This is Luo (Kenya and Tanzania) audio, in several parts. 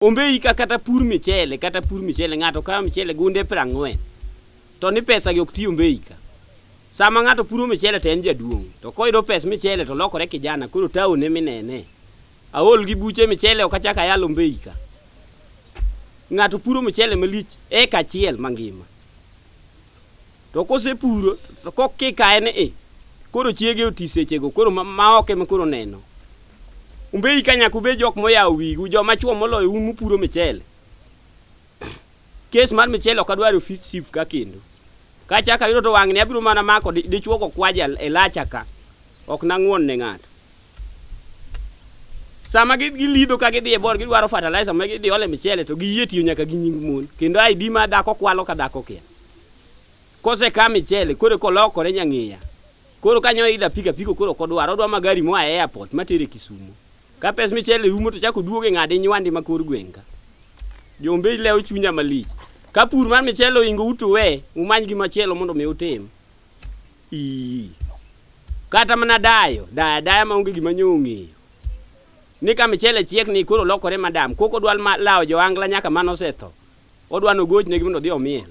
Ombe ika kata pur michele kata pur michele ng'ato kawo michele gunde prang'wen to ni pesa gi ok ti ombe ika. Sama ng'ato puro michele to en jaduong' to koyudo pes michele to lokore kijana koro taone minene. Aol gi buche michele ok achak ayal ombe ika. Ng'ato puro michele malich eka achiel mangima. To kosepuro to kokikaye ni i koro chiege oti sechego koro ma- ma ok ema koro neno. Umbe ika nyaka ubed jok moyawo wigu joma chuo moloyo un mupuro michele. Kes mar michele ok adwar e ofis chief ka kendo. Ka achako ayudo to wang'ni abiro mana mako di- dichuo go kwaja e lacha ka. Ok nang'won ne ng'ato. Sama gi- gilidho ka gidhi e bor gidwaro fertilizer ma gidhi ole michele to giyie tiyo nyaka gi nying mon. Kendo ID ma dhako kwalo ka dhako kia. Kose ka michele koro kolokore nyang'iya. Koro kanyo idha pik apiko koro kodwar odwa magari moa e airport matere Kisumo. Ka pes michele rumo to chak oduoge ng'ade nywande ma kor gweng' ka. Jombei lewo chunya malich. Ka pur mar michele oingo utu we umany gi machielo mondo mi utim. Ii. Kata mana dayo, daya daya ma onge gima nyo ong'eyo. Ni ka michele chiek ni koro lokore madam, koko dwal ma lawo jo angla nyaka mano setho. Odwa nogochne mondo odhi omiel.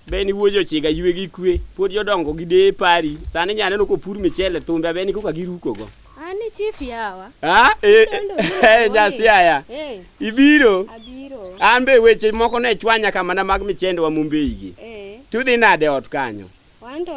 Beni wuoji ochiga ywe gi kwe. Pod jodongo gi deye pari. Sani nya neno kopur michele thumbe abeni koka girukogo. Ani chief yawa. Ha? Eh, eh, nyasi aya. Eh, Ibiro. abiro. An be weche moko ne chwanya kamana mag michende wa Mumbei gi. Eh, Tudhi nade ot kanyo? wanto